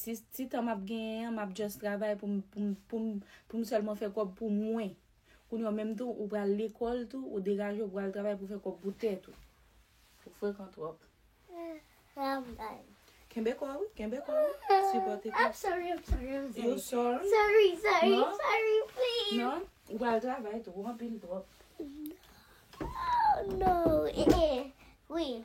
Ti tan map genyen an map just travay pou m pou m pou m pou m sèlman fè kòb pou mwen. Kounye w menm tou ou pral lekòl tou, ou degaje ou pral travay pou fè kòb pou tèt ou. Ou frekan twòp. Kenbe kò ou, kenbe kò ou. Sipòte kò. I'm sorry, I'm sorry, I'm sorry. You sorry? Sorry, sorry, Non. sorry, please. Non, ou pral travay tou, ou anpil twòp. Oh, no. Eh, eh. Oui.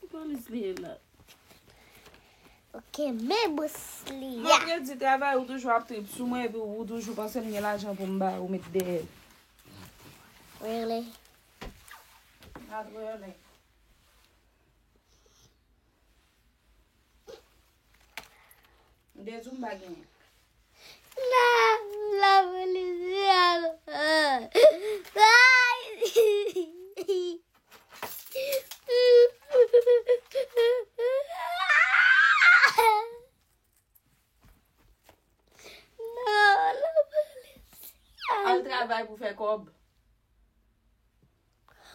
Ki polis li ye la? Ok, me bous li ya. Mwen te di travay ou toujou ap trip sou mwen epi ou toujou panse m gen lajan pou m bay ou met dèyè. Really? Not really. De zumba genyen. Nan la policial. Al travay pou fè kob.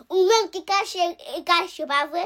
Ou menm ki kache, kache pa vre?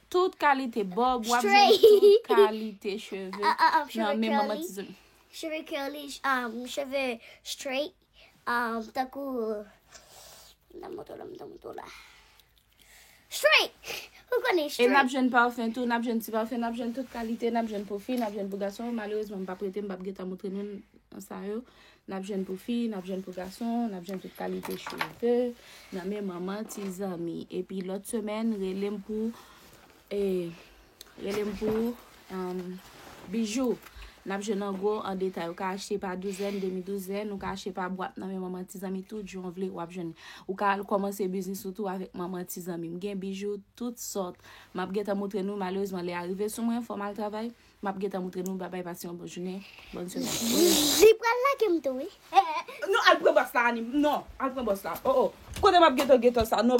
Tout kalite bob wap jwenn tout kalite cheve nan men manman tizou. Cheve curly, cheve straight, tankou nan moto la, nan moto la. Straight! Ou konnen straight. E nap jwenn parfum tou, nap jwenn ti parfum, nap jwenn tout kalite, nap jwenn pou fi, nap jwenn pou gason. Malerezman m pa prete, m pap gen tan moutre nou sa yo. N ap jwenn pou fi, n ap jwenn pou gason, n ap jwenn tout kalite cheve nan men manman ti zanmi. Epi lòt semèn, rele m pou e, rele m pou um, bijou. N ap jwenn an gwo, an detay. Ou ka achte pa douzèn, demi douzèn, ou ka achte pa bwat nan men manman ti zanmi tout jan w vle w ap jwenn. Ou ka al kòmanse biznis ou tou avèk manman ti zanmi. M gen bijou tout sòt. M ap gentan moutre nou, malerezman lè a rive sou mwen, fò m al travay. Map gentan moutre nou babay pase yon bon jounen bon semen. Li pral lagem tou wi. Non al pran bòs la Annie non al pran bòs la oh oh kote map gentan gentan sa non.